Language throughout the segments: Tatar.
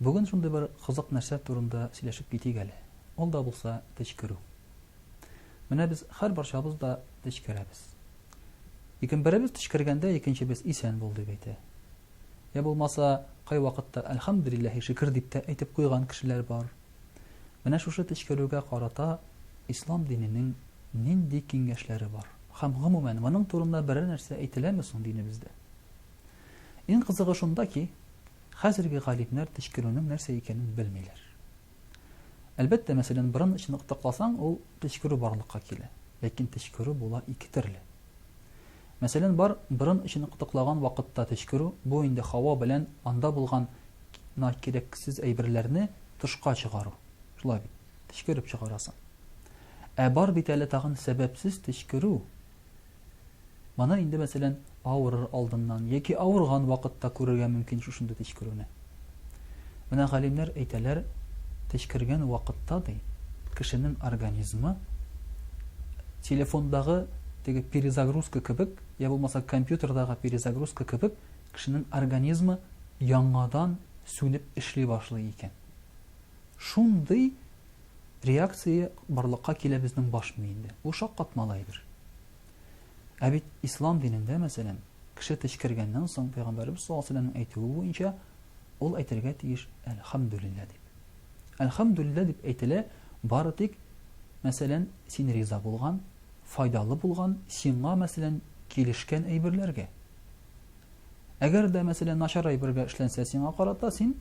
Бүген шундый бер кызык нәрсә турында сөйләшеп китик әле. Ул да булса төчкерү. Менә без һәрбарчабыз да төчкерәбез. Ләкин беребез төчкергәндә икенчебез исән бул дип әйтә. Я булмаса, кайвакытта әлхәмдүлилләһи шөкер дип тә әйтеп куйган кешеләр бар. Менә шушы төчкерүгә карата ислам диненең нинди киңәшләре бар? Һәм гомумән моның турында берәр нәрсә әйтеләме соң динебездә? Иң кызыгы шунда ки, хәзерге галимнәр төчкерүнең нәрсә икәнен белмиләр. Әлбәттә, мәсәлән, борын эчен ыктыкласаң, ул төчкерү барлыкка килә. Ләкин төчкерү була ике төрле. Мәсәлән, бар борын эчен ыктыклаган вакытта төчкерү, бу инде һава белән анда булган на кирәксез әйберләрне тышка чыгару. Шулай бит, төчкереп чыгарасың. Ә бар бит әле тагын сәбәпсез төчкерү. Моны инде, мәсәлән, авырыр алдыннан яки авырган вакытта күрергә мөмкин шушындый төчкерүне. Менә галимнәр әйтәләр, төчкергән вакытта, ди, кешенең организмы телефондагы теге перезагрузка кебек, я булмаса компьютердагы перезагрузка кебек, кешенең организмы яңадан сүнеп эшли башлый икән. Шундый реакция барлыкка килә безнең баш миендә. Бу шаккатмалы әйбер. Ә бит ислам динендә, мәсәлән, кеше течкергәннән соң, пәйгамбәребез саллаллаһу алейһи ва сәлләмнең әйтүе буенча, ул әйтергә тиеш әлхәмдүлилләһ дип. Әлхәмдүлилләһ дип әйтелә бары тик, мәсәлән, син риза булган, файдалы булган, сиңа, мәсәлән, килешкән әйберләргә. Әгәр дә, мәсәлән, начар әйбергә эшләнсә сиңа карата, син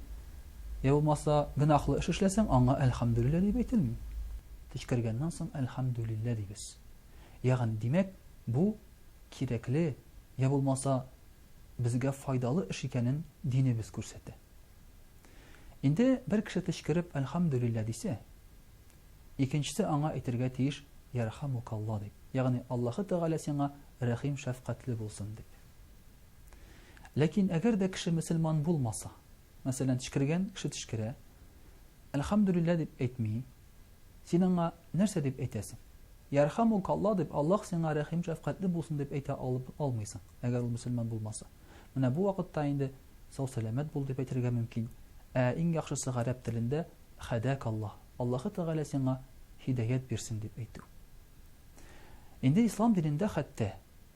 я булмаса гөнаһлы эш эшләсәң, аңа әлхәмдүлиллә дип әйтелми. Тишкергәннән соң әлхәмдүлиллә дибез. Ягъни, димәк, бу кирәкле я булмаса безгә файдалы эш икәнен динебез күрсәтә. Инде бер кеше тишкереп әлхәмдүлиллә дисә, Икенчесе аңа әйтергә тиеш, Ярхамукалла, дип, ягъни Аллаһы Тәгалә сиңа рәхим-шәфкатьле булсын, дип. Ләкин әгәр дә кеше мөселман булмаса, мәсәлән, төчкергән кеше төчкерә, Әлхәмдүлилләһ дип әйтми, син аңа нәрсә дип әйтәсең? Ярхамукалла дип, Аллаһ сиңа рәхим-шәфкатьле булсын дип әйтә алып алмыйсың, әгәр ул мөселман булмаса. Менә бу вакытта инде сау-сәламәт бул дип әйтергә мөмкин. Ә иң яхшысы гарәп телендә Хәдәк Аллаһ, Аллаһы Тәгалә сиңа һидаять бирсен, дип әйтү. Инде ислам динендә хәтта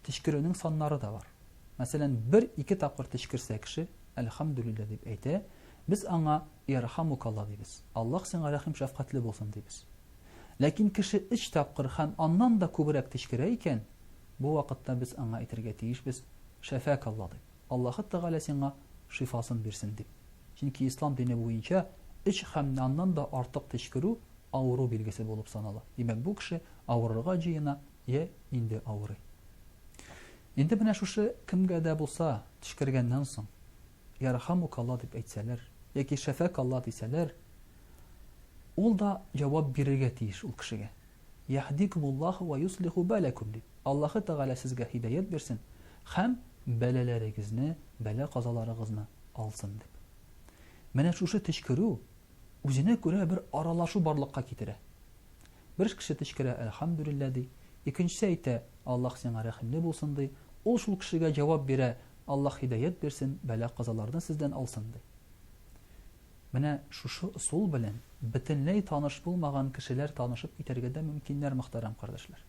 төчкерүнең саннары да бар. Мәсәлән, бер-ике тапкыр төчкерсә кеше, Әлхәмдүлилләһ дип әйтә, без аңа Ярхамукаллаһ дибез, Аллаһ сиңа рәхим-шәфкатьле булсын, дибез. Ләкин кеше өч тапкыр һәм аннан да күбрәк төчкерә икән, бу вакытта без аңа әйтергә тиешбез, Шәфәкаллаһ дип. Аллаһы Тәгалә сиңа шифасын бирсен, дип. Чөнки Ислам дине буенча өч һәм аннан да артык төчкерү авыру билгесе булып санала. Димәк, бу кеше авырырга җыена йә инде авырый. Инде менә шушы кемгә дә булса төчкергәннән соң, Ярхамукалла дип әйтсәләр, яки Шәфәкалла дисәләр, ул да җавап бирергә тиеш ул кешегә. Яһдикумуллаһу вә йослиху бәләкүм дип, Аллаһы Тәгалә сезгә һидаять бирсен һәм бәлаләрегезне, бәла-казаларыгызны алсын дип. Менә шушы төчкерү, үзенә күрә бер аралашу барлыкка китерә. Бер кеше төчкерә, Әлхәмдүлилләһ, ди, икенчесе әйтә, Аллаһ сиңа рәхимле булсын, ди, ул шул кешегә җавап бирә, Аллаһ һидаять бирсен, бәла-казаларны сездән алсын, ди. Менә шушы ысул белән бөтенләй таныш булмаган кешеләр танышып китәргә дә мөмкиннәр, мөхтәрәм кардәшләр.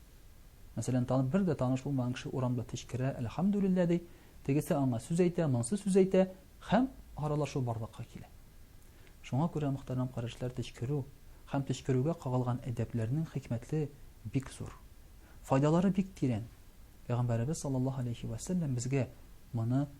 Мәсәлән, танып бер дә таныш булмаган кеше урамда течкерә, әлхәмдүлилләһ ди, тегесе аңа сүз әйтә, монсы сүз әйтә һәм аралашу барлыкка килә. Шуңа күрә, мөхтәрәм кардәшләр, течкерү һәм течкерүгә кагылган әдәпләрнең хикмәтле бик зур. Файдалары бик тирән. Пәйгамбәребез саллаллаһу алейһи вә сәлләм безгә моны